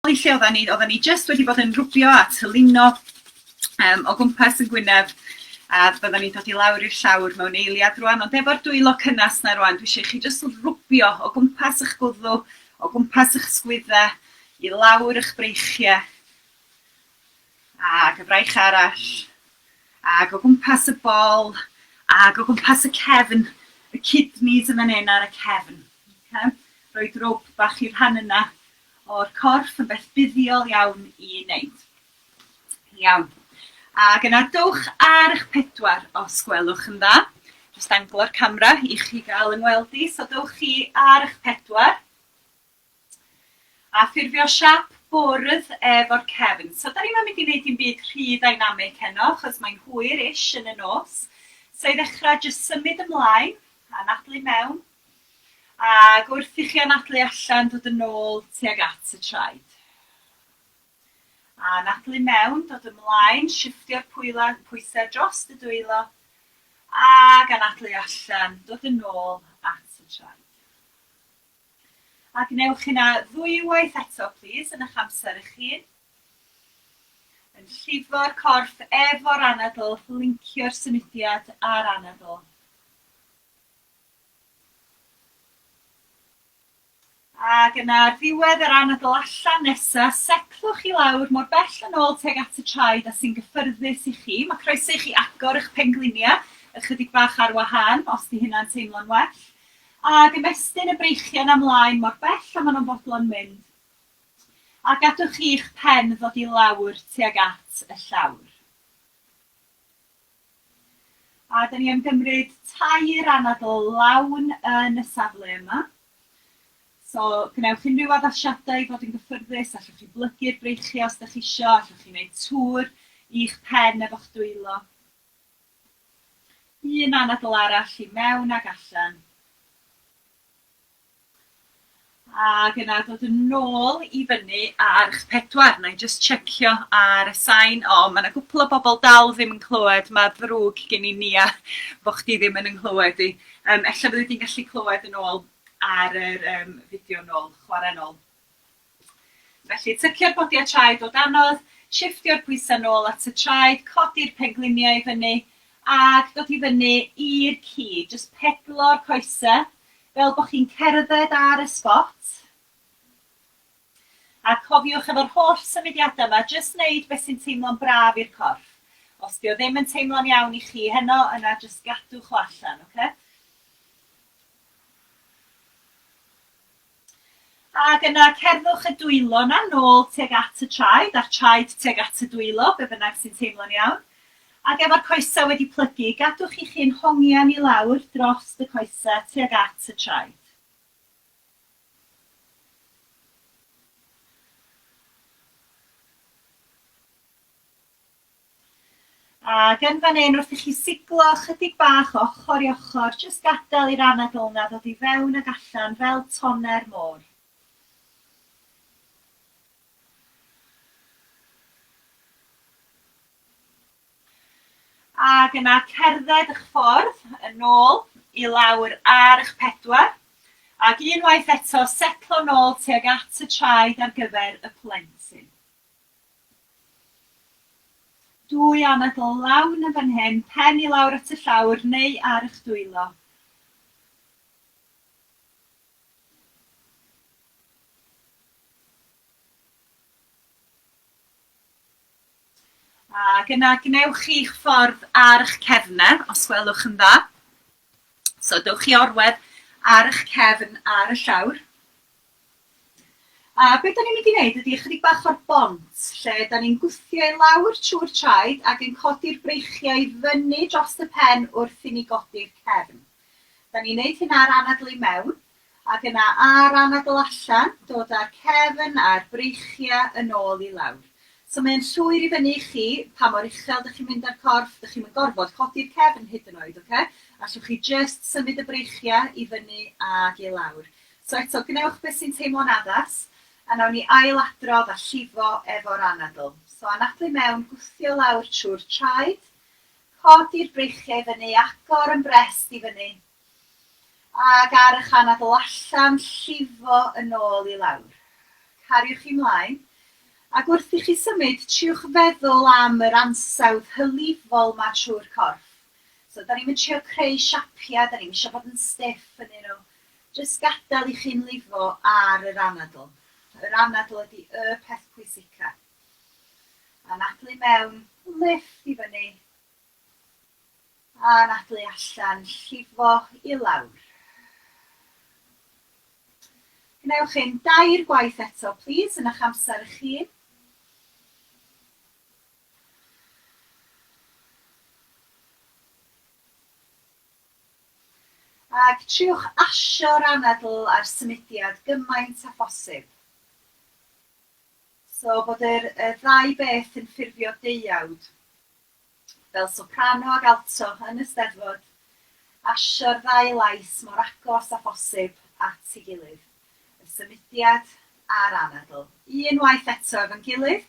O'i lle oedden ni, oedden ni jyst wedi bod yn rwbio a tylino um, o gwmpas yn Gwynedd a byddwn ni'n dod i lawr i'r llawr mewn eiliad rwan, ond efo'r dwylo cynnes na rwan, dwi eisiau chi jyst rwbio o gwmpas eich gwddw, o gwmpas eich sgwydda, i lawr eich breichiau, ac y fraich arall, ac o gwmpas y bol, ac o gwmpas y cefn, y kidneys yn fan hyn ar y cefn. Okay? Roed rwb bach i'r rhan yna o'r corff yn beth buddiol iawn i wneud. Iawn. Ac yna dowch ar eich pedwar os gwelwch yn dda. Jyst anglo'r camera i chi gael yng ngweld i, so dowch chi ar eich pedwar. A ffurfio siap bwrdd efo'r cefn. So da ni'm yn mynd i wneud dim byd rhy ddynamig heno, achos mae'n hwyr-ish yn y nos. So i ddechrau, jyst symud ymlaen, anadlu mewn, Ac wrth i chi anadlu allan, dod yn ôl tuag at y traed. A anadlu mewn, dod ymlaen, shiftio'r pwyla, pwysau drost y dwylo. Ac anadlu allan, dod yn ôl at y traed. A gwnewch hynna ddwywaith eto, plîs, yn eich amser eich hun. Yn llifo'r corff efo'r anadl, lincio'r symudiad a'r anadl. Ac yna ar ddiwedd yr anadl allan nesa, setlwch i lawr mor bell yn ôl tuag at y traed a sy'n gyffyrddus i chi. Mae croeso i chi agor eich pengliniau ychydig bach ar wahân, os 'di hynna'n teimlo'n well, ac ymestyn y breichiau 'na mlaen mor bell a maen nhw'n fodlon mynd, a gadwch chi'ch pen ddod i lawr tuag at y llawr. A dan ni am gymryd tair anadl lawn yn y safle yma. So, gwnewch unrhyw addasiadau i fod yn gyffyrddus, allwch chi blygu'r breichiau os dach chi isio, allwch chi wneud tŵr i'ch pen efo'ch dwylo. Un anadl arall i mewn ac allan. Ac yna dod yn nôl i fyny ar ch pedwar. Wna i jyst tsecio ar y sain. O, mae yna gwpl o bobl dal ddim yn clywed. Mae ddrwg gen i Nia bo' chdi ddim yn 'y nghlywed i. Yym ella fyddi di'n gallu clywed yn ôl ar yr yym fideo nôl, chwarae nôl. Felly, tycio'r bodiau traed o danodd, shiffftio'r pwysau nôl at y traed, codi'r pengliniau i fyny, ac dod i fyny i'r cig. Jyst pedlo'r coesau fel bod chi'n cerdded ar y sbot. A cofiwch efo'r holl symudiadau yma, jyst wneud beth sy'n teimlo'n braf i'r corff. Os dio ddim yn teimlo'n iawn i chi heno, yna jyst gadwch o allan, oce? Ac yna cerddwch y dwylo yna nôl tuag at y traed, a'r traed tuag at y dwylo, be bynnag sy'n teimlo'n iawn. Ac efo'r coesau wedi plygu, gadwch chi'ch hun hongian i lawr drost y coesau tuag at y traed. Ac yn fan hyn, wrth i chi siglo ychydig bach o ochr i ochr, jyst gadael i'r anadl yna ddod i fewn ac allan fel toner môr. Ac yna cerdded eich ffordd yn ôl i lawr ar eich pedwar, ac unwaith eto setlo nôl tuag at y traed ar gyfer y plentyn. Dwy anadl lawn yn fan hyn, pen i lawr at y llawr neu ar eich dwylo. Ac yna gwnewch chi'ch ffordd ar eich cefnau, os gwelwch yn dda. So dewch chi orwedd ar eich cefn ar y llawr. A beth da ni'n mynd i wneud ydy ychydig bach o'r bont, lle da ni'n gwthio i lawr trwy'r traed ac yn codi'r breichiau i fyny dros y pen wrth i ni godi'r cefn. Da ni'n wneud hynna ar anadlu mewn. Ac yna a'r anadl allan, dod a'r cefn a'r breichiau yn ôl i lawr. So mae e'n llwyr i fyny i chi pa mor uchel dych chi'n mynd â'r corff, dych chi'm yn gorfod codi'r cefn hyd yn oed, ocê? Allwch chi jyst symud y breichiau i fyny ac i lawr. So eto, gwnewch beth sy'n teimlo'n addas, a nawn ni ail-adrodd a llifo efo'r anadl. So anadlu mewn, gwthio lawr trwy'r traed, codi'r breichiau i fyny, agor yn brest i fyny, Ac ar eich anadl allan, llifo yn ôl i lawr. Cariwch chi 'mlaen, ac wrth i chi symud, triwch feddwl am yr ansawdd hylifol 'ma trwy'r corff. So, 'da ni'm yn trio creu siapia, 'da ni'm isio bod yn stiff ynnyn nhw. Jyst gadael i chi'n lifo ar yr anadl. Yr anadl ydi y peth pwysica. Anadlu mewn, lifft i fyny, A anadlu allan, llifo i lawr. Gwnewch hyn dair gwaith eto plîs yn ych amser eich hun. Ac triwch asio'r anadl a'r symudiad gymaint â phosib. So bod yr y ddau beth yn ffurfio deuawd. fel soprano ac alto yn y Steddfod, asio'r ddau lais mor agos â phosib at ei gilydd, y symudiad a'r anadl, unwaith eto efo'n gilydd,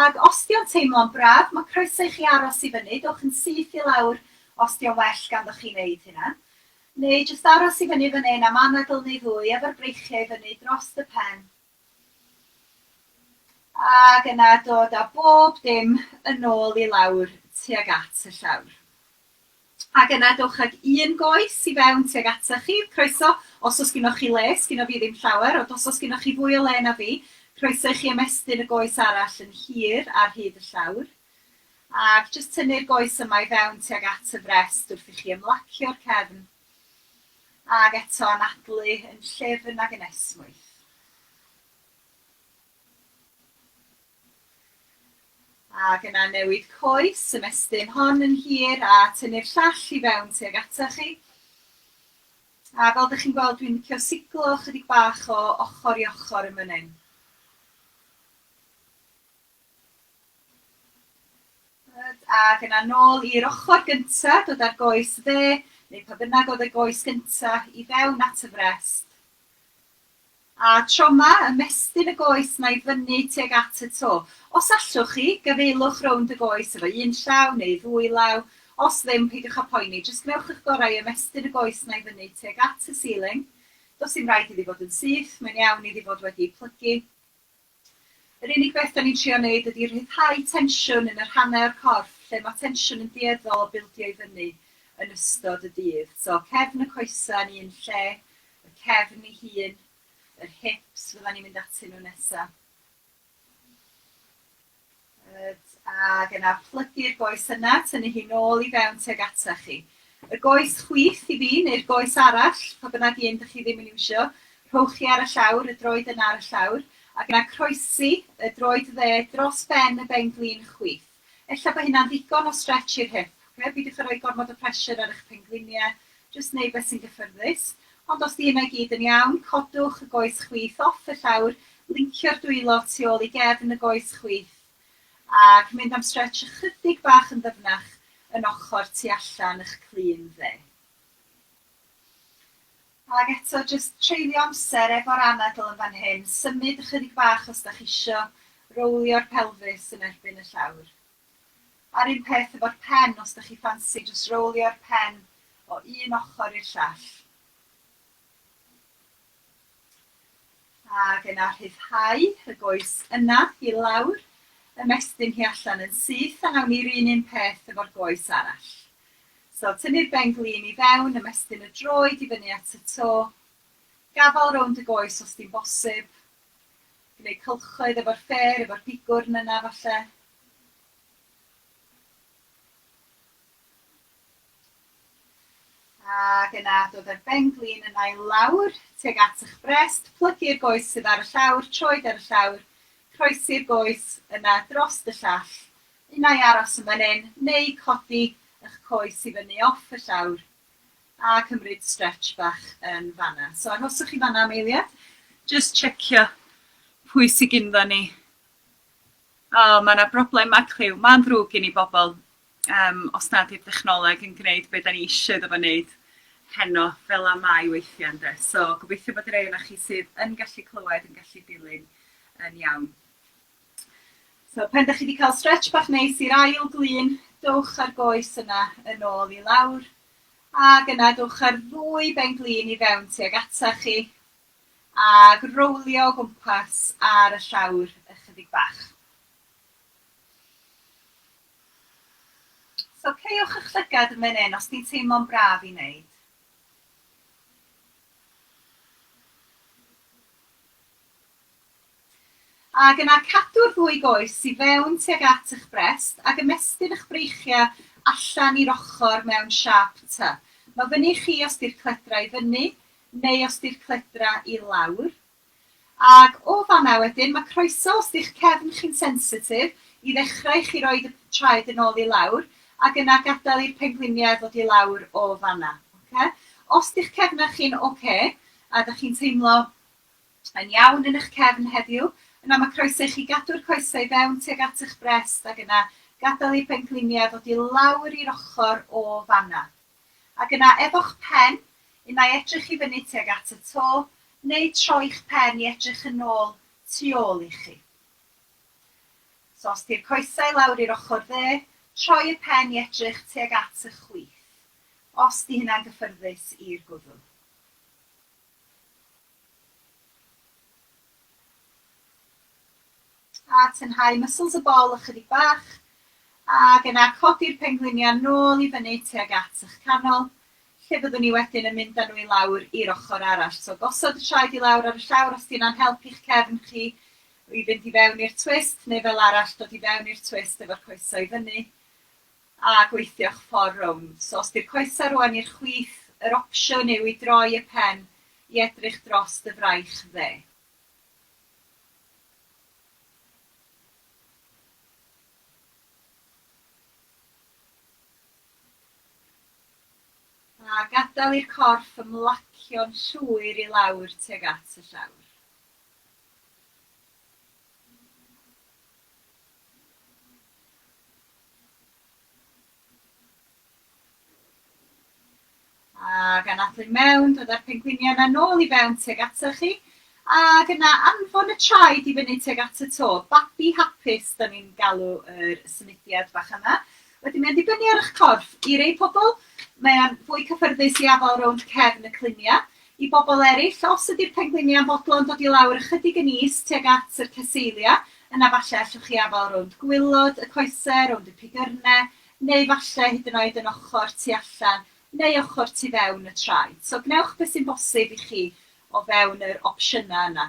ac os 'di o'n teimlo'n braf, ma' croeso i chi aros i fyny, dowch yn syth i lawr os 'di o'n well ganddoch chi wneud hynna, neu jyst aros i fyny fan hyn am anadl neu ddwy efo'r breichiau i fyny drost y pen, Ac yna dod â bob dim yn ôl i lawr tuag at y llawr. Ac yna dowch ag un goes i fewn tuag ata chi, croeso, os oes gynoch chi le, sgynno fi ddim llawer, ond os oes gynoch chi fwy o le na fi, croeso i chi ymestyn y goes arall yn hir ar hyd y llawr. Ac jyst tynnu'r goes yma i fewn tuag at y frest wrth i chi ymlacio'r cefn. Ac eto anadlu yn llefn ac yn esmwyth. Ac yna newid coes, ymestyn hon yn hir a tynnu'r llall i fewn tuag ata chi. A fel dych chi'n gweld dwi'n licio siglo ychydig bach o ochr i ochr yn fan hyn. Good, ac yna nôl i'r ochr gyntaf, dod â'r goes dde, neu pa bynnag oedd y goes gyntaf, i fewn at y frest. A tro 'ma, ymestyn y goes 'na i fyny tuag at y to. Os allwch chi, gafaelwch rownd y goes efo un llaw neu ddwy law, os ddim, peidiwch â phoeni, jyst gwnewch eich gorau i ymestyn y goes 'na i fyny tuag at y ceiling. Does dim raid iddi fod yn syth, mae'n iawn iddi fod wedi ei phlygu. Yr unig beth 'da ni'n trio wneud ydi rhyddhau tensiwn yn yr hanau o'r corff lle mae tensiwn yn dueddol o bildio i fyny yn ystod y dydd. So, cefn y coesau yn un lle, y cefn ei hun, yr hips fyddan ni'n mynd atyn nhw nesa. Good, ac yna plygu'r goes yna, tynnu hi nôl i fewn tuag ata chi. Y goes chwith i fi, neu'r goes arall, pa bynnag un dych chi ddim yn iwsio, rhowch chi ar y llawr, y droed yna ar y llawr, ac yna croesi y droed dde dros ben y benglin chwith. Ella bod hynna'n ddigon o stretch i'r hip, ocê, peidiwch â rhoi gormod o pressure ar eich pengliniau, Jyst wneud beth sy'n gyffyrddus. Ond os 'di hynna i gyd yn iawn, codwch y goes chwith off y llawr, lincio'r dwylo tu ôl i gefn y goes chwith, ac mynd am stretch ychydig bach yn ddyfnach yn ochr tu allan y'ch clun dde. Ac eto, jyst treulio amser efo'r anadl yn fan hyn, symud ychydig bach os 'da chi isio, rowlio'r pelfis yn erbyn y llawr. A'r un peth efo'r pen os dych chi ffansi jyst rowlio'r pen o un ochr i'r llall. Ac yna rhyddhau y goes yna i lawr, ymestyn hi allan yn syth a nawn ni'r un un peth efo'r goes arall. So tynnu'r ben glin i fewn, ymestyn y droed i fyny at y to, gafal rownd y goes os di'n bosib, Gwneud cylchoedd efo'r ffêr, efo'r gigwrn yna falle. Ac yna dod â'r ben-glin yna i lawr, tuag at ych brest, plygu'r goes sydd ar y llawr, troed ar y llawr, croesi'r goes yna drost y llall, unai aros yn fan hyn, neu codi ych coes i fyny off y llawr. A cymryd stretch bach yn fanna. So arhoswch chi fanna am eiliad. Jyst checio pwy sy gynddon ni. O, mae yna broblem macliw. Mae'n ddrwg gen i bobl um, os nad yw'r dechnoleg yn gwneud beth da ni eisiau iddo fo wneud heno fel a mae weithiau ynde. So gobeithio bod rei o'na chi sydd yn gallu clywed yn gallu dilyn yn iawn. So, pen da chi wedi cael stretch bach neis i'r ail glun, dowch ar goes yna yn ôl i lawr. Ac yna dowch ar ddwy ben glun i fewn tuag ata chi. Ac rowlio o gwmpas ar y llawr ychydig bach. So, ceiwch eich llygad yn fan hyn os di'n teimlo'n braf i wneud. Ac yna cadw'r ddwy goes i fewn tuag at eich brest ac ymestyn eich breichiau allan i'r ochr mewn siâp T. Mae fyny i chi os 'di'r cledra i fyny neu os 'di'r cledra i lawr. Ac o fan'na wedyn, mae croeso os 'di'ch cefn chi'n sensitif i ddechrau i chi roid y traed yn ôl i lawr ac yna gadael i'r pengliniau ddod i lawr o fan'na. Ocê? Os 'di'ch cefnau chi'n ocê a 'da chi'n teimlo yn iawn yn eich cefn heddiw, yna mae croeso i chi gadw'r coesau i fewn tuag at eich brest ac yna gadael i bengliniau ddod i lawr i'r ochr o fan'na. Ac yna efo'ch pen, unai edrych i fyny tuag at y to, neu troi'ch pen i edrych yn ôl tu ôl i chi. So os di'r coesau lawr i'r ochr dde, troi y pen i edrych tuag at y chwith, os di hynna'n gyffyrddus i'r gwddw. A tynhau muscles y bol ychydig bach, ac yna codi'r pengliniau nôl i fyny tuag at eich canol, lle byddwn i wedyn yn mynd â nhw i lawr i'r ochr arall. So gosod y traed i lawr ar y llawr os 'di hynna'n help i'ch cefn chi i fynd i fewn i'r twist, neu fel arall dod i fewn i'r twist efo'r coesau i fyny. a gweithio'ch ffordd rownd. So os 'di'r coesau rwan i'r chwith, yr opsiwn yw i droi y pen i edrych dros dy fraich dde. A gadael i'r corff ymlacio'n llwyr i lawr tuag at y llawr. Ac anadlu i mewn, dod â'r pengwiniau yna nôl i fewn tuag atoch chi. Ac yna anfon y traed i fyny tuag at y to. Babi hapus, da ni'n galw yr symudiad bach yma. Wedyn mae'n dibynnu ar eich corff. I rei pobl, mae'n fwy cyffyrddus i afael rownd cefn y cluniau. I bobl eraill, os ydy'r pengliniau yn bodlon dod i lawr ychydig yn is tuag at yr ceseilia, yna falle allwch chi afael rownd gwilod y coesau, rownd y pigyrnau, neu falle hyd yn oed yn ochr tu allan neu ochr tu fewn y traed. So gwnewch beth sy'n bosib i chi o fewn yr opsiynau yna.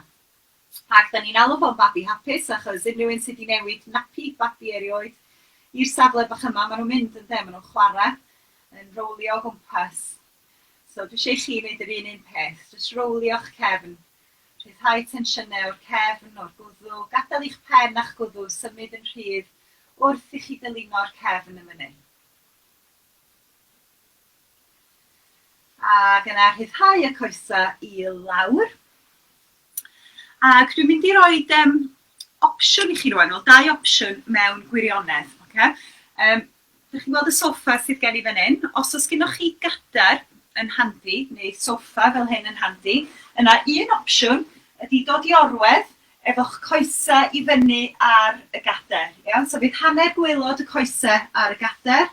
Ac 'da ni'n alw fo'n babi hapus achos unrhyw un sy' 'di newid napi babi erioed i'r safle bach yma, ma' nhw'n mynd ynde, ma' nhw'n chwarae, yn rowlio o gwmpas. So dwi eisiau i chi wneud yr un un peth, jyst rowlio'ch cefn. Rhyddhau tensiynau o'r cefn, o'r gwddw, gadael i'ch pen a'ch gwddw symud yn rhydd wrth i chi dylino'r cefn yn fan hyn. Ac yna rhyddhau y coesau i lawr. Ac dwi'n mynd i roi um, opsiwn i chi rwan, wel dau opsiwn mewn gwirionedd. Okay? Um, Dych chi'n gweld y soffa sydd gen i fan hyn? Os oes gennych chi gadair yn handi, neu soffa fel hyn yn handi, yna un opsiwn ydy dod i orwedd efo'ch coese i fyny ar y gadair. Iawn? So fydd hanner gwaelod y coese ar y gadair,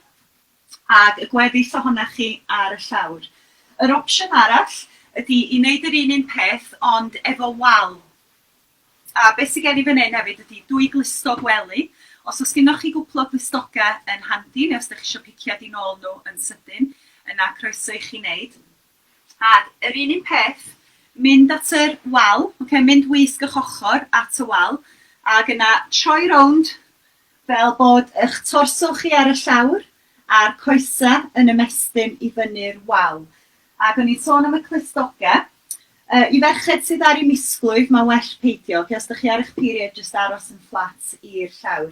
ac y gweddill ohonoch chi ar y llawr. Yr opsiwn arall ydy i wneud yr un un peth ond efo wal. A be sy gen i fan hyn hefyd ydi dwy glustog wely. Os oes gennoch chi gwpl o glustogau yn handi, neu os dych chi isio piciad i nôl nhw yn sydyn, yna croeso i chi wneud. Ac yr un un peth, mynd at yr wal, ocê, mynd wisg ych ochr at y wal, ac yna troi rownd, fel bod ych torso chi ar y llawr, a'r coesau yn ymestyn i fyny'r wal. Ac o'n i'n sôn am y clustogau. Yy i ferched sydd ar eu misglwyf mae'n well peidio, oce, os dych chi ar eich period jyst aros yn fflat i'r llawr.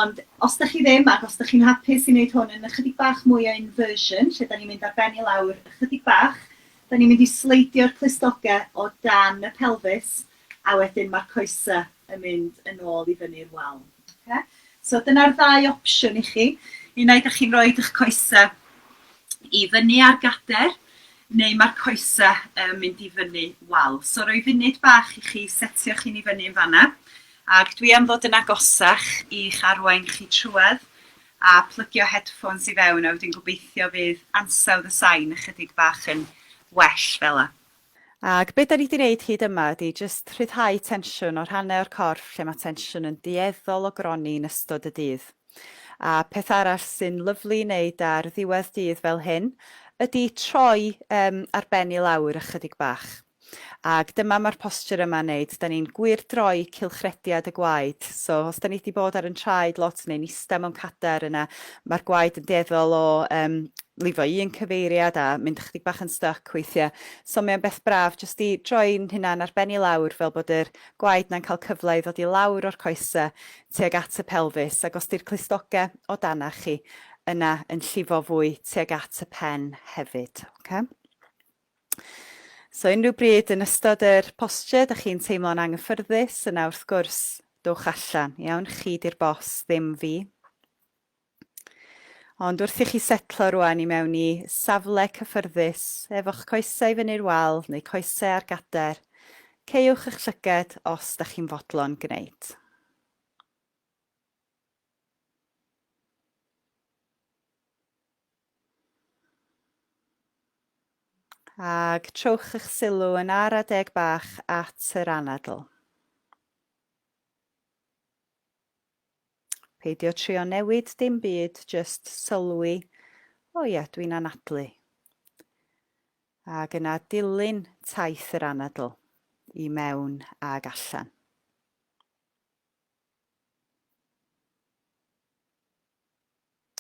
Ond os dych chi ddim ac os dych chi'n hapus i wneud hwn yn ychydig bach mwy o inversion, lle dan ni'n mynd ar ben i lawr ychydig bach, dan ni'n mynd i sleidio'r clustogau o dan y pelfis a wedyn ma'r coesa yn mynd yn ôl i fyny'r wal. Oce? So dyna'r ddau opsiwn i chi. Unai 'dach chi'n roid 'ych coesa i fyny ar gader neu ma'r coesa yn mynd i fyny wal. So roi funud bach i chi setio'ch hun i fyny yn fanna. Ac dwi am ddod yn agosach i'ch arwain chi trwedd a plygio headphones i fewn a wedyn gobeithio fydd ansawdd y sain ychydig bach yn well fela. Ac be' 'dan ni 'di neud hyd yma ydi jyst rhyddhau tensiwn o rhannau o'r corff lle mae tensiwn yn dueddol o gronni yn ystod y dydd. A peth arall sy'n lyfli i neud ar ddiwedd dydd fel hyn ydi troi yym ar ben i lawr ychydig bach. Ac dyma mae'r posture yma'n neud, 'dan ni'n gwyrdroi cylchrediad y gwaed, so os 'dan ni 'di bod ar 'yn traed lot neu'n ista mewn cadar yna Mae'r gwaed yn dueddol o yym lifo un cyfeiriad a mynd ychydig bach yn styc weithiau. So mae'n beth braf jyst i droi'n hunan ar ben i lawr fel bod yr gwaed na'n cael cyfle i ddod i lawr o'r coesau tuag at y pelfis ac os di'r clustogau o danach chi yna yn llifo fwy tuag at y pen hefyd. Okay? So unrhyw bryd yn ystod yr posture, da chi'n teimlo'n anghyffyrddus, yna wrth gwrs, dowch allan, iawn, chi di'r bos, ddim fi. Ond wrth i chi setlo rwan i mewn i safle cyffyrddus efo'ch coesau i fyny'r wal neu coesau ar gader, caewch eich llyged os da chi'n fodlon gwneud. Ac trowch eich sylw yn ar adeg bach at yr anadl. Peidio trio newid dim byd, jyst sylwi, 'O ia, dwi'n anadlu. Ac yna dilyn taith yr anadl, i mewn ag allan.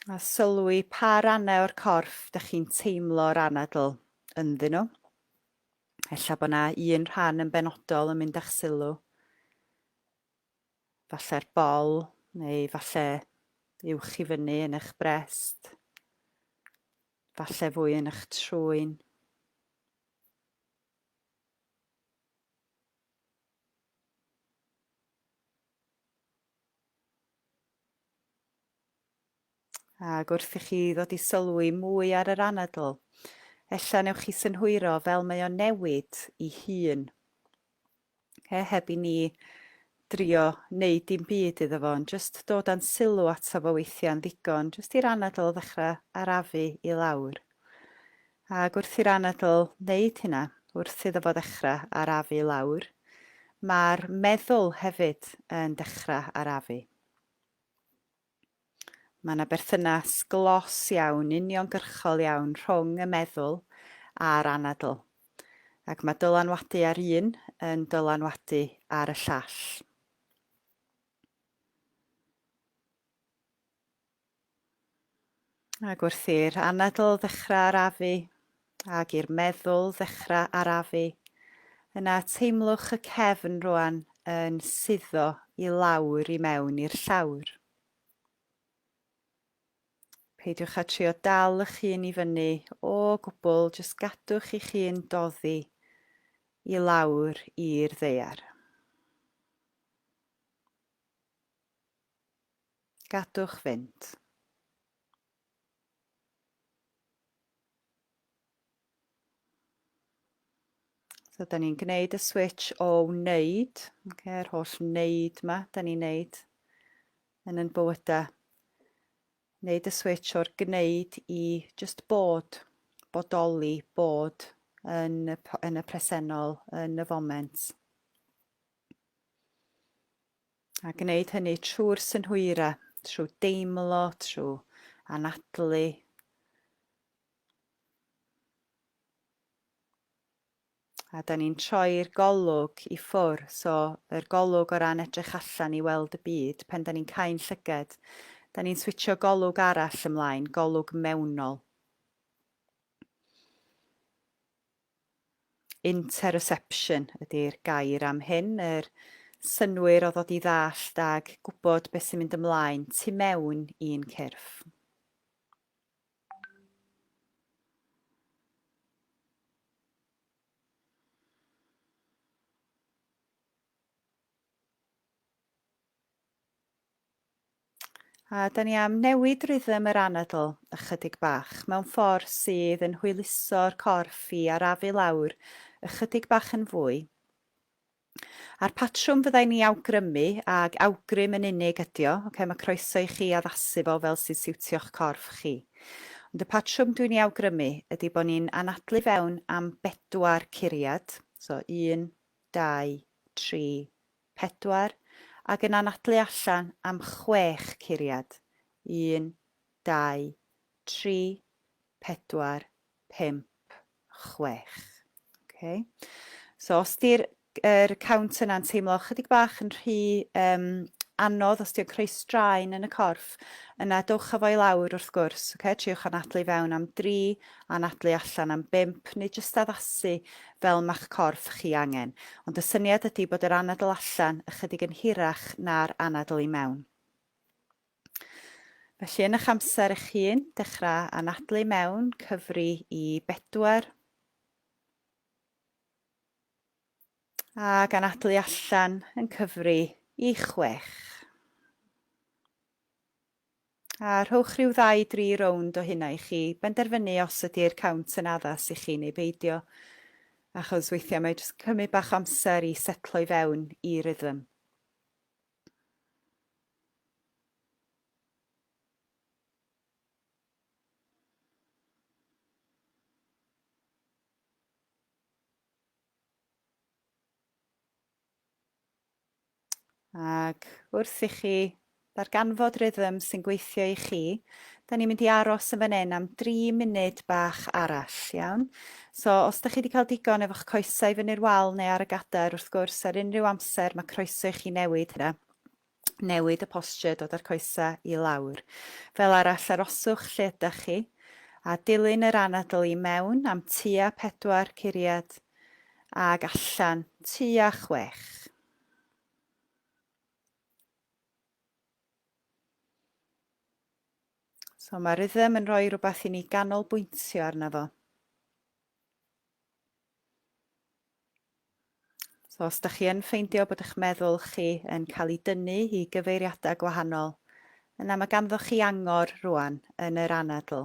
A sylwi pa rannau o'r corff dych chi'n teimlo'r anadl ynddyn nhw. Ella bod yna un rhan yn benodol yn mynd â'ch sylw. falle'r bol, neu falle uwch i fyny yn eich brest, falle fwy yn eich trwyn. Ac wrth i chi ddod i sylwi mwy ar yr anadl, ella newch chi synhwyro fel mae o'n newid i hun. He, heb i ni drio neud dim byd iddo fo, ond jyst dod â'n sylw ato fo weithiau'n ddigon, jyst i'r anadl ddechrau arafu i lawr. Ac wrth i'r anadl wneud hynna, wrth iddo fo ddechrau arafu i lawr, mae'r meddwl hefyd yn dechrau arafu. Mae yna berthynas glos iawn, uniongyrchol iawn rhwng y meddwl a'r anadl, ac mae dylanwadu ar un yn dylanwadu ar y llall. Ac wrth i'r anadl ddechrau arafu, ac i'r meddwl ddechrau arafu, yna teimlwch y cefn rwan yn suddo i lawr i mewn i'r llawr. Peidiwch â trio dal ych hun i fyny o gwbl, jyst gadwch i'ch hun doddi i lawr i'r ddeiar. Gadwch fynd. So, da ni'n gwneud y switch o wneud, okay, yr holl wneud yma, da ni'n wneud yn yn bywydau. Wneud y switch o'r gwneud i just bod, bodoli, bod yn y, yn y presennol, yn y foment. A gwneud hynny trwy'r synhwyrau, trwy deimlo, trwy anadlu. A da ni'n troi'r golwg i ffwr, so yr golwg o ran edrych allan i weld y byd, pen da ni'n cael llyged, da ni'n switio golwg arall ymlaen, golwg mewnol. Interoception ydy'r gair am hyn, yr synnwyr o ddod i ddallt ag gwybod beth sy'n mynd ymlaen tu mewn i'n cyrff. A da ni am newid rhythm yr anadl ychydig bach, mewn ffordd sydd yn hwyluso'r corff i arafu lawr ychydig bach yn fwy. A'r patrwm fyddai ni awgrymu, ag awgrym yn unig ydi o, okay, mae croeso i chi addasu fo fel sy'n siwtio'ch corff chi. Ond y patrwm dwi'n ei awgrymu ydy bod ni'n anadlu fewn am bedwar curiad, so un, dau, tri, pedwar, ac yn anadlu allan am chwech curiad, un, dau, tri, pedwar, pump, chwech. Ok. So os di'r yr count yna'n teimlo chydig bach yn rhy um, anodd, os di'n creu straen yn y corff, yna dowch â fo i lawr wrth gwrs, okay? triwch anadlu fewn am dri, anadlu allan am bump neu jyst addasu fel ma'ch corff chi angen, ond y syniad ydy bod yr anadl allan ychydig yn hirach na'r anadl i mewn. Felly yn eich amser eich hun, dechrau anadlu mewn, cyfri i bedwar, a gan adlu allan yn cyfri i chwech. A rhowch rhyw ddau dri rownd o hynna i chi benderfynu os ydi'r count yn addas i chi neu beidio. Achos weithiau mae jyst yn cymryd bach o amser i setlo i fewn i rhythm. Ac wrth i chi ddarganfod rhythm sy'n gweithio i chi, da ni'n mynd i aros yn fan hyn am 3 munud bach arall, iawn? So, os da chi wedi cael digon efo'ch coesau i fyny'r wal neu ar y gadair, wrth gwrs, ar unrhyw amser mae croeso i chi newid hynna newid y posture, dod â'r coesau i lawr. Fel arall, aroswch lle ydych chi, a dilyn yr anadl i mewn am tua pedwar curiad ag allan tua chwech. So mae rhythm yn rhoi rhywbeth i ni ganolbwyntio arno fo. So os da chi yn ffeindio bod eich meddwl chi yn cael ei dynnu i gyfeiriadau gwahanol, yna mae ganddo chi angor rwan yn yr anadl.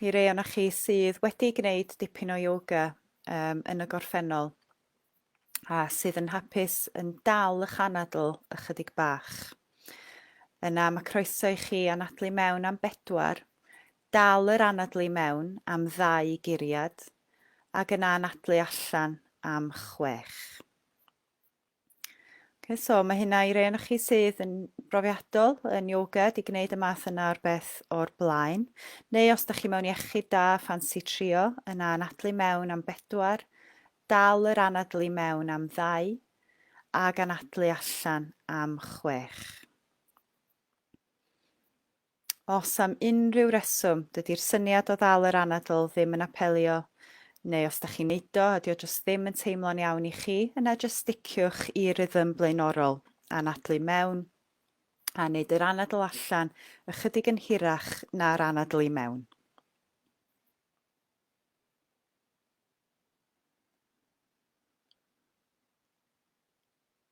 I rei o'na chi sydd wedi gwneud dipyn o yoga um, yn y gorffennol a sydd yn hapus yn dal ych anadl ychydig bach. Yna mae croeso i chi anadlu mewn am bedwar, dal yr anadlu mewn am ddau guriad, ac yna anadlu allan am chwech. Okay, so mae hynna i rei o'n chi sydd yn brofiadol yn yoga di gwneud y math yna o'r beth o'r blaen. Neu os da chi mewn iechyd da, ffansi trio, yna anadlu mewn am bedwar, dal yr anadlu mewn am ddau, ac anadlu allan am chwech. Os am unrhyw reswm, dydi'r syniad o ddal yr anadl ddim yn apelio, neu os da chi'n neud o a dio jyst ddim yn teimlo'n iawn i chi, yna jyst sticiwch i rythm blaenorol, anadlu mewn a neud yr anadl allan ychydig yn hirach na'r anadl i mewn.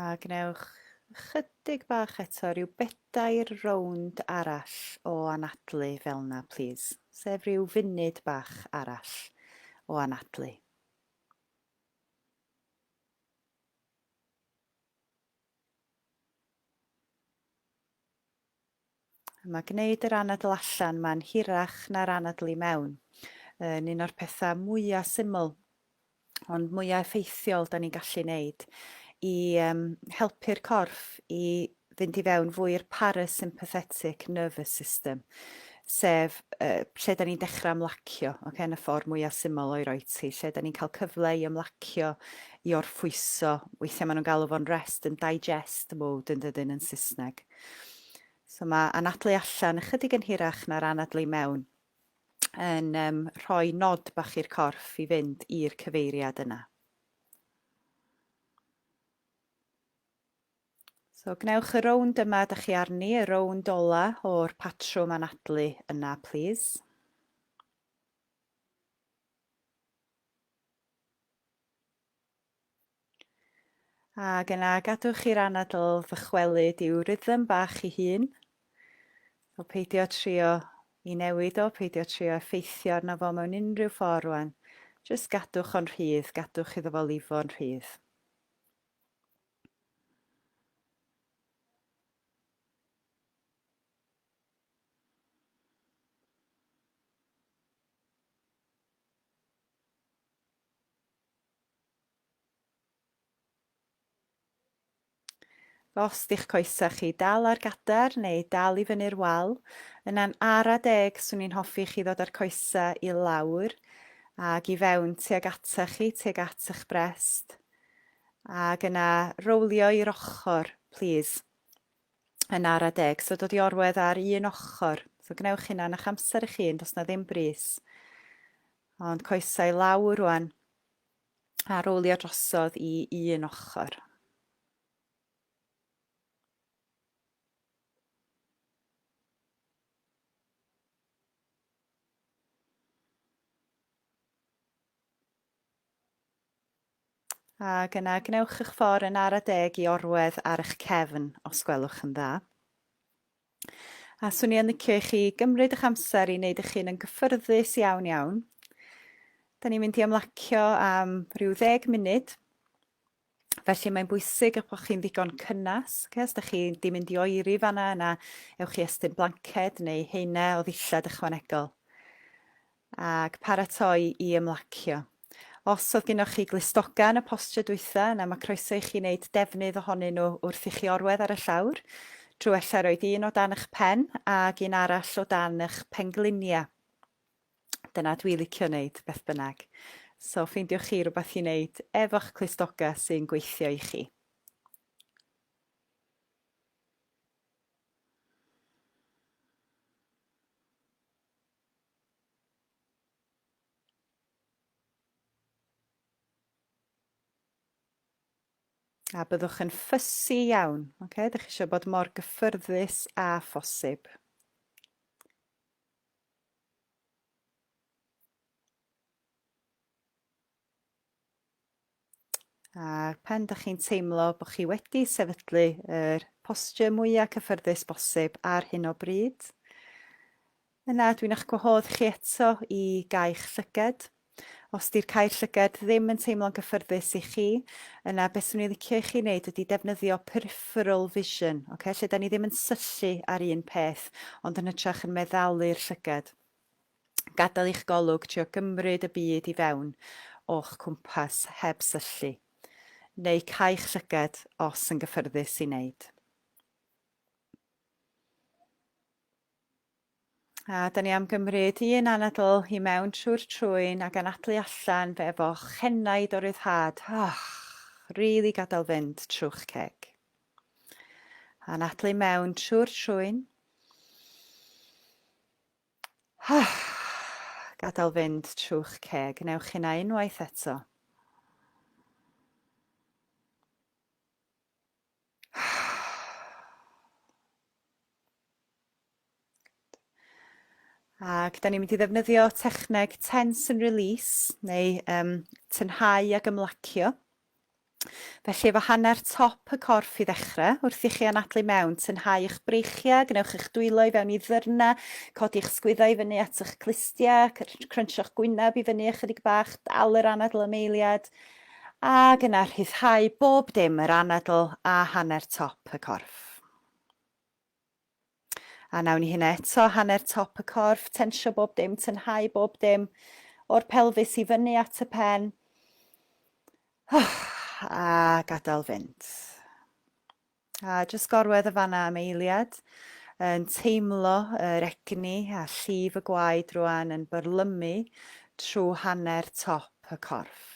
A gwnewch ychydig bach eto, rhyw bedair rownd arall o anadlu fel yna, please. Sef rhyw funud bach arall o anadlu. Mae gwneud yr anadl allan mae'n hirach na'r anadl i mewn. Yn un o'r pethau mwyaf syml ond mwyaf effeithiol da ni'n gallu wneud i um, helpu'r corff i fynd i fewn fwy i'r parasympathetic nervous system, sef uh, lle da ni'n dechrau ymlacio, okay, yn y ffordd mwyaf syml o'i roi ti, lle da ni'n cael cyfle i ymlacio, i orffwyso, weithiau maen nhw'n galw fo'n rest yn digest mode yn dydyn yn Saesneg. So mae anadlu allan ychydig yn hirach na'r anadlu mewn yn um, rhoi nod bach i'r corff i fynd i'r cyfeiriad yna. So gwnewch y rownd yma da chi arni, y rownd ola o'r patrwm anadlu yna, please. Ac yna gadwch i'r anadl ddychwelyd i'w rhythm bach i hun. O peidio trio i newid o, peidio trio effeithio arno fo mewn unrhyw ffordd rwan. Just gadwch o'n rhydd, gadwch iddo fo lifo'n rhydd. Os di'ch coesau chi dal ar gader neu dal i fyny'r wal, yna'n ara deg swn i'n hoffi chi ddod â'r coesau i lawr ac i fewn tuag ata chi, tuag at eich brest, ac yna rowlio i'r ochr, plîs. Yn ara deg, so dod i orwedd ar un ochr. So gwnewch hynna yn eich amser eich hun, does na ddim bris. Ond coesau i lawr rwan. A rowlio drosodd i un ochr. Ac yna gwnewch eich ffordd yn ara deg i orwedd ar eich cefn, os gwelwch yn dda. A swn i yn licio i chi gymryd eich amser i wneud eich hun yn gyffyrddus iawn iawn. Da ni'n mynd i ymlacio am rhyw ddeg munud. Felly mae'n bwysig eich bod chi'n ddigon cynnes. Okay? Os da chi di mynd i oeri fanna, yna ewch i estyn blanced neu heine o ddillad ychwanegol. ac paratoi i ymlacio. Os oedd gennoch chi glustoga yn y posture dwytha yna mae croeso i chi wneud defnydd ohonyn nhw wrth i chi orwedd ar y llawr, drwy ella roid un o dan ych pen ac un arall o dan ych penglinia. Dyna dwi licio wneud beth bynnag. So ffeindiwch chi rhywbeth i wneud efo'ch clustoga sy'n gweithio i chi. A byddwch yn ffysi iawn, oce? Dych chi eisiau bod mor gyffyrddus â phosib. A'r pen da chi'n teimlo bod chi wedi sefydlu yr posture mwyaf cyffyrddus bosib ar hyn o bryd. Yna dwi'n eich gwahodd chi eto i gau'ch llyged. Os di'r cair llyged ddim yn teimlo'n gyffyrddus i chi, yna beth swn i'n licio i chi wneud ydy defnyddio peripheral vision, okay? lle da ni ddim yn syllu ar un peth, ond yn hytrach yn meddalu'r llyged. Gadael i'ch golwg trio gymryd y byd i fewn o'ch cwmpas heb syllu, neu cau'ch llygad os yn gyffyrddus i wneud. A da ni am gymryd un anadl i mewn trwy'r trwyn ac anadlu allan fe efo chenaid o ryddhad. Oh, really gadael fynd trwch ceg. Anadlu mewn trwy'r trwyn. Gadael fynd trw'ch ceg. Wnewch hynna unwaith eto. Ac da ni'n mynd i ddefnyddio techneg tense and release, neu um, tynhau ac ymlacio. Felly efo hanner top y corff i ddechre, wrth i chi anadlu mewn, tynhau y'ch breichiau, gwnewch eich dwylo i fewn i ddyrna, codi y'ch sgwyddau i fyny at y'ch clustiau, crynsio'ch gwyneb i fyny ychydig bach, dal yr anadl am eiliad, ac yna rhyddhau bob dim, yr anadl a hanner top y corff. A wnawn ni hynna eto, hanner top y corff, tensio bob dim, tynhau bob dim, o'r pelfis i fyny at y pen. Oh, a gadael fynd. A jyst gorwedd y fanna am eiliad, yn teimlo yr egni a llif y gwaed rwan yn byrlymu trwy hanner top y corff.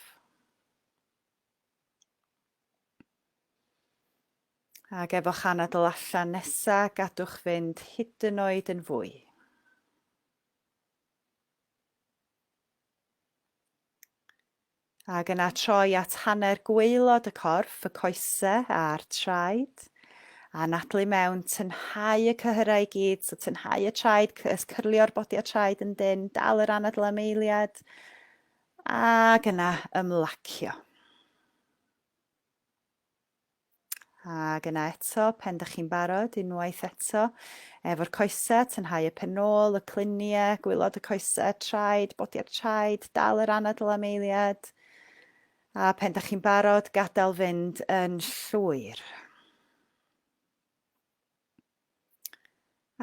Ac efo'ch anadl allan nesa, gadwch fynd hyd yn oed yn fwy. Ac yna troi at hanner gweilod y corff, y coese a'r traed. A nadlu mewn, tynhau y cyhyrau i gyd, so tynhau y traed, cyrlio'r bodi a traed yn dyn, dal yr anadl am eiliad. Ac yna ymlacio. Ac yna eto, pen dych chi'n barod, unwaith eto, efo'r coesau, tynhau y pen ôl, y cluniau, gwylod y coesau, traed, bodi'r traed, dal yr anadl am eiliad. A pen dych chi'n barod, gadael fynd yn llwyr.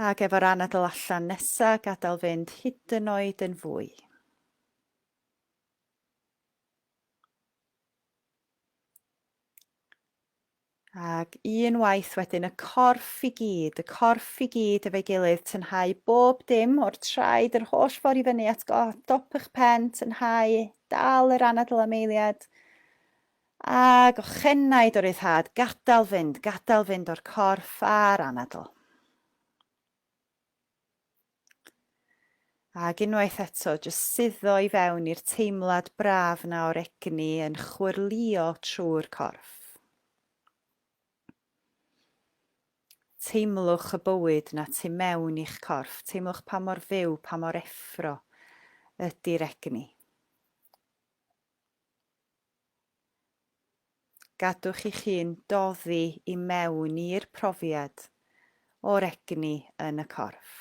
Ac efo'r anadl allan nesa, gadael fynd hyd yn oed yn fwy. Ac un waith wedyn, y corff i gyd, y corff i gyd efo'i gilydd, tynhau bob dim o'r traed, yr holl ffordd i fyny at dop eich pen, tynhau, dal yr anadl am eiliad, A gochenaid o ryddhad, gadael fynd, gadael fynd o'r corff a'r anadl. Ac unwaith eto, jyst suddo i fewn i'r teimlad braf na o'r egni yn chwyrlio trwy'r corff. Teimlwch y bywyd na tu mewn i'ch corff, teimlwch pa mor fyw, pa mor effro ydy'r egni. Gadwch i chi'n doddi i mewn i'r profiad o'r egni yn y corff.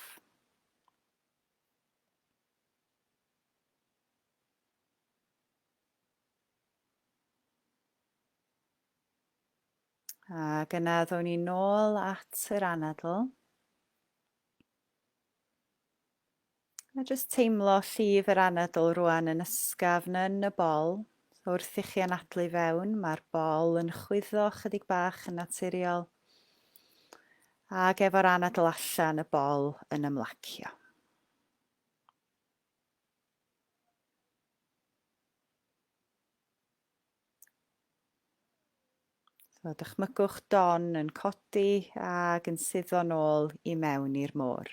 Ac yna ddown ni nôl at yr anadl. A jyst teimlo llif yr anadl rwan yn ysgafn yn y bol. So wrth i chi anadlu fewn, mae'r bol yn chwyddo chydig bach yn naturiol. Ac efo'r anadl allan, y bol yn ymlacio. So dychmygwch Don yn codi ac yn suddo'n ôl i mewn i'r môr.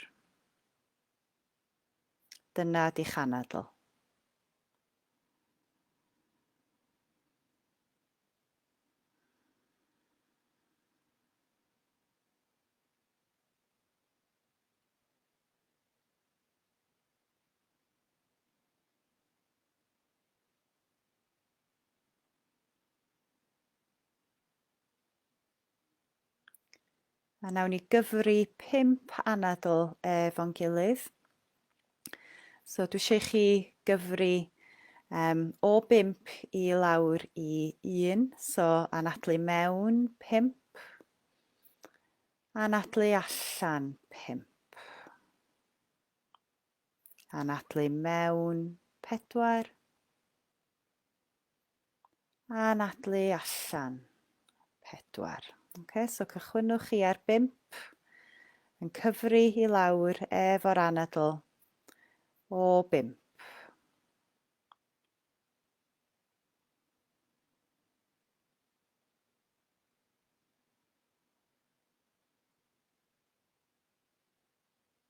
Dyna di chanadl. A nawn ni gyfri pimp anadl efo'n gilydd. So dwi eisiau chi gyfri um, o bimp i lawr i un. So anadlu mewn pimp. Anadlu allan pimp. Anadlu mewn, pedwar. Anadlu allan, pedwar. Okay, so cychwynwch chi ar bimp, yn cyfri i lawr efo'r anadl o bimp.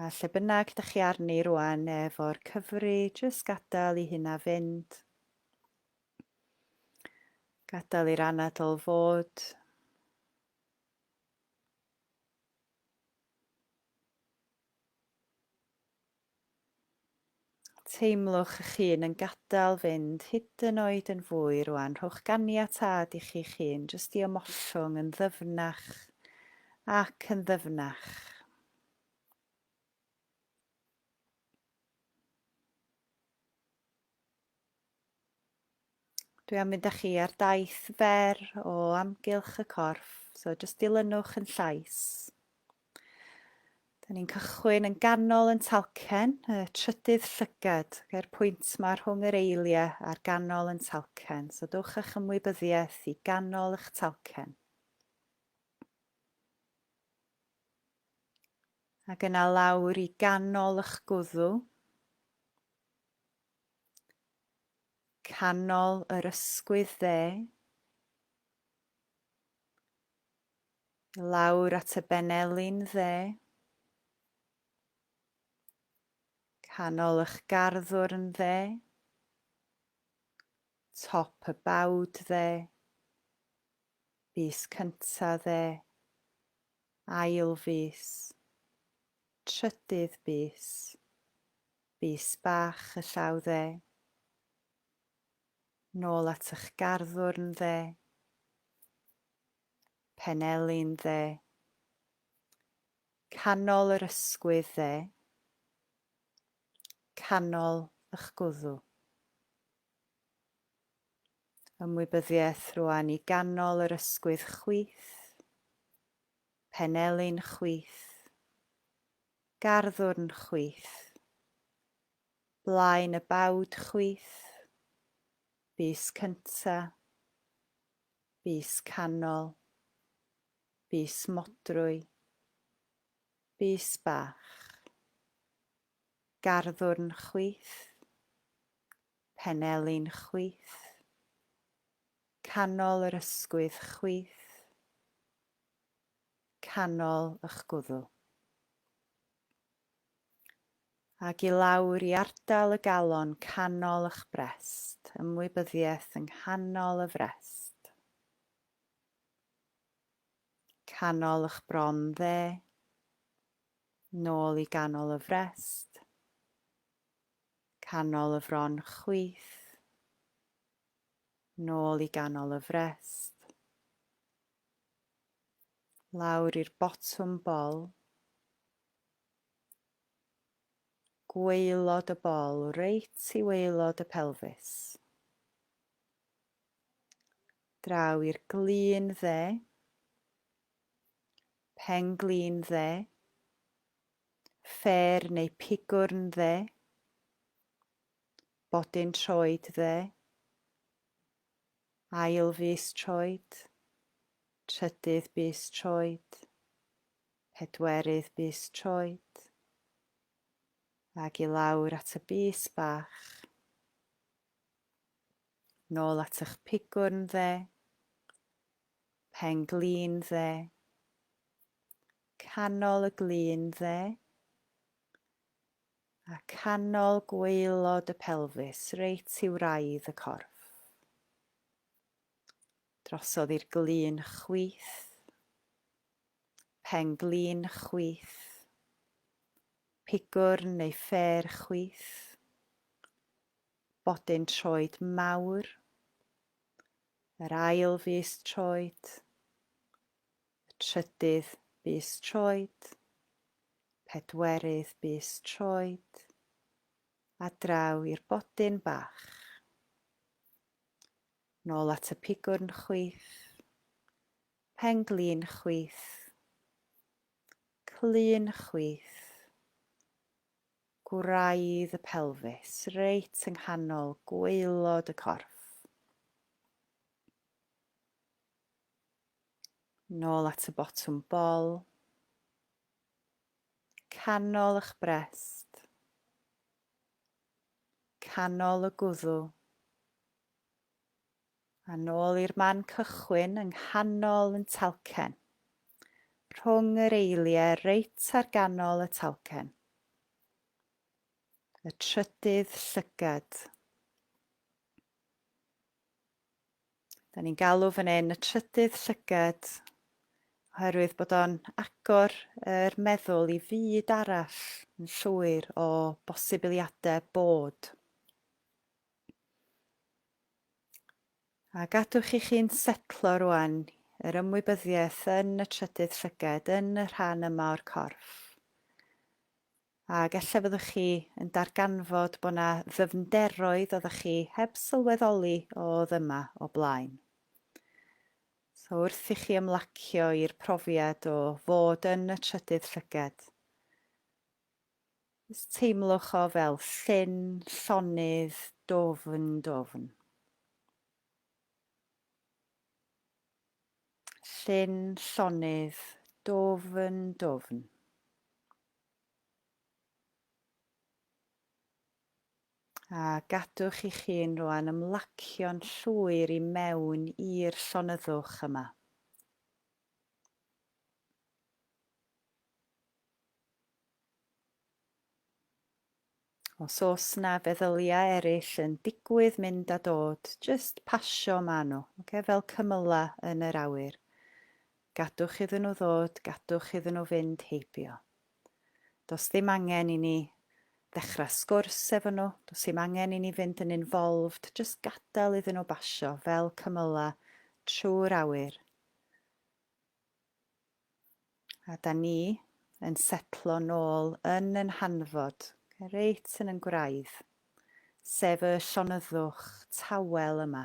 A lle bynnag da chi arni rwan efo'r cyfri, jyst gadael i hynna fynd. Gadael i'r anadl fod. Teimlwch eich hun yn gadael fynd hyd yn oed yn fwy rwan. Rhowch ganiatâd i chi'ch hun jyst i ymollwng yn ddyfnach ac yn ddyfnach. Dwi am mynd â chi ar daith fer o amgylch y corff, so jyst dilynwch yn llais. Da ni'n cychwyn yn ganol yn talcen, y trydydd llygad, gair pwynt mae rhwng yr eiliau a'r ganol yn talcen, so dwch â'ch ymwybyddiaeth i ganol eich talcen. Ac yna lawr i ganol eich gwddw, canol yr ysgwydd dde, lawr at y benelin dde, canol eich garddwr yn dde, top y bawd dde, fus cynta dde, ail fus, trydydd bus, Bys bach y llaw dde. Nôl at ych garddwrn dde. Penelin dde. Canol yr ysgwydd dde. Canol ych gwddw. Ymwybyddiaeth rwan i ganol yr ysgwydd chwith. Penelin chwith. Garddwrn chwith. Blaen y bawd chwith. Bys cynta. Bys canol. Bys modrwy. Bys bach. Garddwrn chwith. Penelin chwith. Canol yr ysgwydd chwith. canol y'ch gwddw, ag i lawr i ardal y galon canol y'ch brest, ymwybyddiaeth yng nghanol y frest, canol y'ch bron dde, nôl i ganol y frest, canol y fron chwith, nôl i ganol y frest, lawr i'r botwm bol, gwaelod y bol, reit i waelod y pelfis. Draw i'r glin dde, pen glin dde, ffer neu pigwrn dde, bodyn troed dde, Ail fis troed, trydydd bys troed, pedwerydd bys troed, ag i lawr at y bys bach. Nôl at eich pigwrn dde, pen glin dde, canol y glin dde, A canol gwaelod y pelfis, reit i wraidd y corff. Drosodd i'r glun chwith. Pen glun chwith. Pigwrn neu ffêr chwith. Bodyn troed mawr. Yr ail fis troed. Y trydydd bys troed. Pedwerydd bys troed. A draw i'r bodyn bach. Nôl at y pigwrn chwith. Pen glin chwith. Clun chwith. Gwraidd y pelfis, reit yng nghanol gwaelod y corff. Nôl at y botwm bol. Canol eich brest. Canol y gwddw. A nôl i'r man cychwyn yng nghanol yn talcen. Rhwng yr eiliau reit ar ganol y talcen. Y trydydd llygad. Da ni'n galw fan hyn y trydydd llygad, oherwydd bod o'n agor yr meddwl i fyd arall yn llwyr o bosibiliadau bod. A gadwch i chi'n setlo rwan yr ymwybyddiaeth yn y trydydd llygad, yn y rhan yma o'r corff. Ac ella fyddwch chi yn darganfod bod yna ddyfnderoedd oeddech chi heb sylweddoli oedd yma o blaen. So wrth i chi ymlacio i'r profiad o fod yn y trydydd llygad, Ys teimlwch o fel llyn, llonydd, dofn, dofn. Llyn llonydd, dwfn, dwfn. A gadwch i chi'n rwan ymlacio'n llwyr i mewn i'r llonyddwch yma. Os oes 'na feddyliau eraill yn digwydd mynd a dod, jyst pasio ma' nhw, ocê, fel cymylau yn yr awyr. Gadwch iddyn nhw ddod, gadwch iddyn nhw fynd heibio. Does ddim angen i ni ddechrau sgwrs efo nhw, does ddim angen i ni fynd yn involved, jyst gadael iddyn nhw basio fel cymylau trwy'r awyr. A da ni yn setlo nôl yn yn hanfod, reit yn yn gwraidd, sef y llonyddwch tawel yma.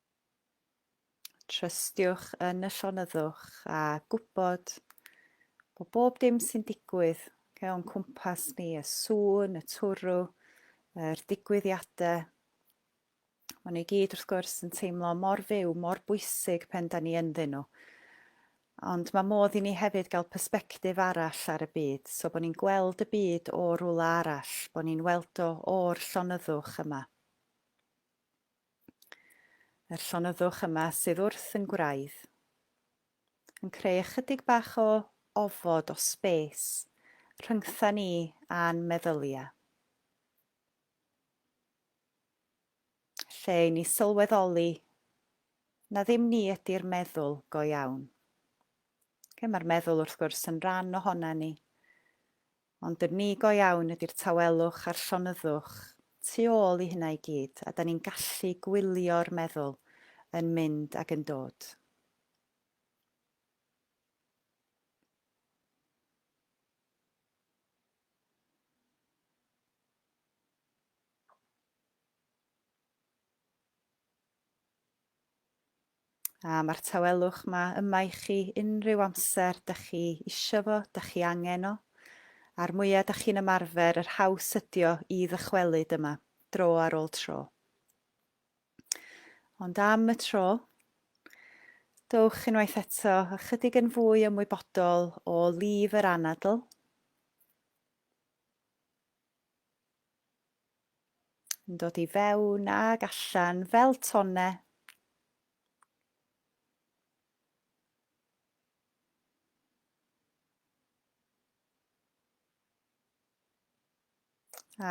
Trystiwch yn y llonyddwch a gwybod o bob dim sy'n digwydd okay, o'n cwmpas ni, y sŵn, y twrw, yr digwyddiadau. Maen nhw i gyd wrth gwrs yn teimlo mor fyw, mor bwysig pen da ni ynddyn nhw. Ond mae modd i ni hefyd gael perspektif arall ar y byd, so bod ni'n gweld y byd o rwla arall, bod ni'n weld o o'r llonyddwch yma. Yr llonyddwch yma sydd wrth yn gwraidd yn creu ychydig bach o ofod o sbes rhyngtha ni a'n meddylia. Lle i ni sylweddoli na ddim ni ydy'r meddwl go iawn. Lle mae'r meddwl wrth gwrs yn rhan ohona ni, Ond yn ni go iawn ydy'r tawelwch a'r llonyddwch tu ôl i hynna i gyd, a 'dan ni'n gallu gwylio'r meddwl yn mynd ac yn dod. A mae'r tawelwch ma yma i chi unrhyw amser da chi isio fo, da chi angen o. A'r mwya da chi'n ymarfer, yr haws ydio i ddychwelyd yma, dro ar ôl tro. Ond am y tro, dowch unwaith eto ychydig yn fwy ymwybodol o lif yr anadl, Yn dod i fewn ag allan fel tonne.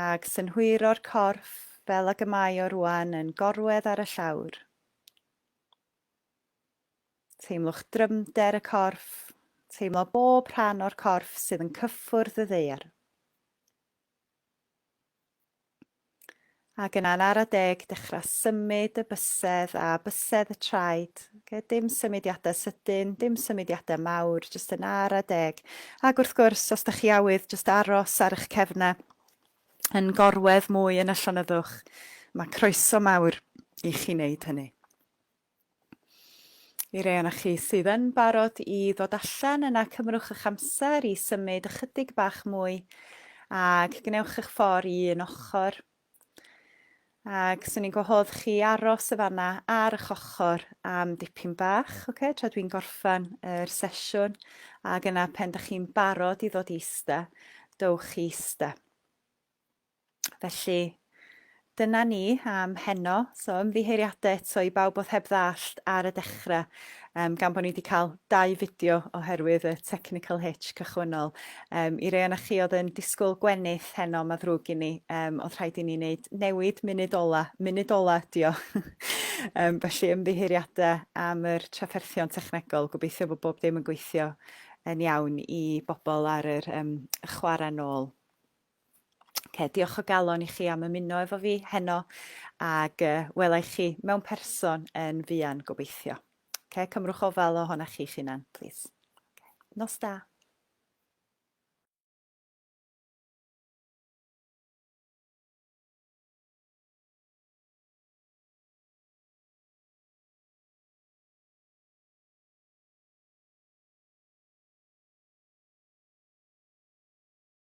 Ag synhwyro'r corff fel ag y mae o rwan yn gorwedd ar y llawr. Teimlwch drymder y corff, teimlo bob rhan o'r corff sydd yn cyffwrdd y ddeiar. Ac yna'n ara deg, dechrau symud y bysedd a bysedd y traed. Okay, dim symudiadau sydyn, dim symudiadau mawr, jyst yn ara deg. Ac wrth gwrs, os da chi awydd, jyst aros ar eich cefnau yn gorwedd mwy yn y llonyddwch. Mae croeso mawr i chi wneud hynny. I rei o'na chi sydd yn barod i ddod allan, yna cymrwch eich amser i symud ychydig bach mwy ac gwnewch eich ffordd i un ochr. Ac swn i'n gwahodd chi aros y fanna ar eich ochr am dipyn bach, okay, tra dwi'n gorffan yr sesiwn, ac yna pen da chi'n barod i ddod i eista, dowch i eista. Felly, dyna ni am heno. So, ymddiheuriadau eto i bawb oedd heb ddallt ar y dechrau, um, gan bod ni wedi cael dau fideo oherwydd y technical hitch cychwynnol. Um, I rei o'na chi oedd yn disgwyl gwenith heno, mae ddrwg i ni, um, oedd rhaid i ni wneud newid munud ola, munud ola ydi o. um, felly ymddiheuriadau am yr trafferthion technegol, gobeithio bod bob dim yn gweithio yn iawn i bobl ar yr um, chwarae nôl. Oce, diolch o galon i chi am ymuno efo fi heno ac uh, welai chi mewn person yn fuan gobeithio. Oce, cymrwch ofal ohona chi'ch hunan, plîs. Okay. Nos da.